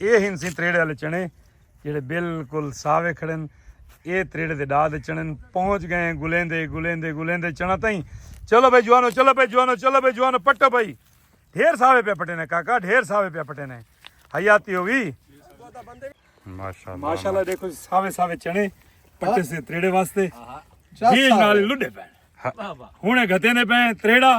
اے ہن سیں تریڑے آلے چنے جیڑھے بالکل ساوے کھڑن اے تریڑے دے ڈا دے چنن پہنچ گئے ہیں گلیندے گلیندے گلیندے چنا تائیں چلو بھائی جوانو چلو بھائی جوانو چلو بھائی جوانو پٹو بھائی ڈھیر ساوے پہ پٹے نے کاکا ڈھیر ساوے پہ پٹے نے حیاتی ہوئی ماشاءاللہ دیکھو جی، ساوے ساوے چنے پٹے سے تریڑے واسطے جیل نال لڈے پے ہن گھتے نے پے تریڑا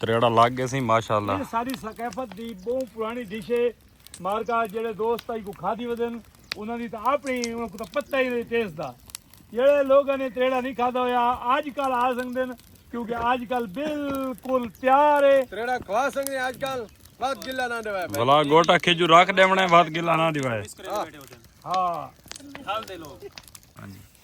تریڑا لگ گئے سی ماشاءاللہ یہ ساری ثقافت دی بہو پرانی ڈش ہے مارکا جڑے دوست آئی کو کھا دی ودن انہاں دی تا اپنی انہاں کو تا پتہ ہی نہیں ٹیس دا جڑے لوگاں نے تریڑا نہیں کھا دا ہویا آج کل آ سنگ دن کیونکہ آج کل بالکل تیار ہے تریڑا کھوا سنگ دن آج کل بات گلہ نہ دیوائے بلا گوٹا کھجو راک دیونے بات گلہ نہ دیوائے ہاں ہاں ہاں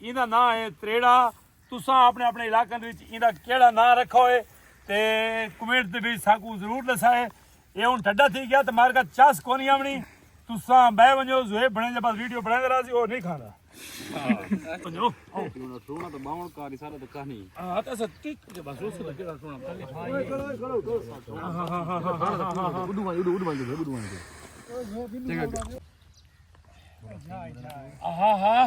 ایندا ناں ہے تریڑا تساں اپنے اپنے علاقن وچ ایندا کیڑا ناں رکھا ہوئے تے کمنٹ دے وچ ساکوں ضرور دسائے اے ہن ٹھڈا تھی گیا تے مار کا چاس کونی آونی تساں بہ ونجو زوے بنے جے بس ویڈیو بنے درا سی او نہیں کھاندا ہاں ونجو او ٹونا ٹونا تے باون کا رسالہ تے کہانی ہاں تے سر ٹک کے بس اس تے کیڑا ٹونا ہاں ہاں ہاں ہاں ہاں اڈو ون اڈو اڈو ون دے اڈو ون دے چنگا ہاں ہاں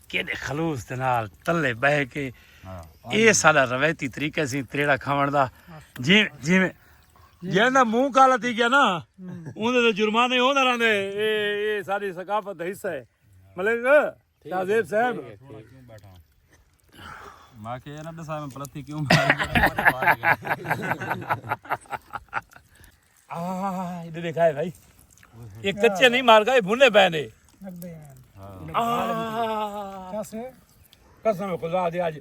کیݙے خلوص دے نال تلے بہے کے اے ساڈا روایتی طریقہ سی تریڑا کھاون دا جی جی جیندا منہ کالا تھی گیا نا اون دے جرمانے ہوندا رہندے اے اے ساری ثقافت دا حصہ ہے ملک تعزیب صاحب ماں کے نہ دسا میں پلتھی کیوں مار آہ دیکھا ہے بھائی یہ کچے نہیں مار گا یہ بھنے پہ نے قسم خدا دے آج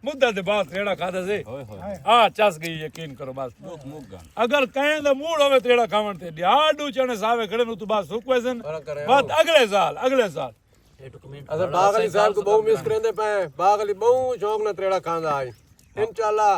مدہ دے بات تیڑا کھا دے آہ چاس گئی یقین کرو بس اگر کہیں دے موڑ ہوئے تیڑا کھاون تے دیا ڈو چنے ساوے کھڑے نو تو بات سوک ویزن بات اگلے سال اگلے سال اگر باغلی صاحب کو بہو مس کریں دے پہ باغلی بہو شوق نہ تیڑا کھا دے آج انشاءاللہ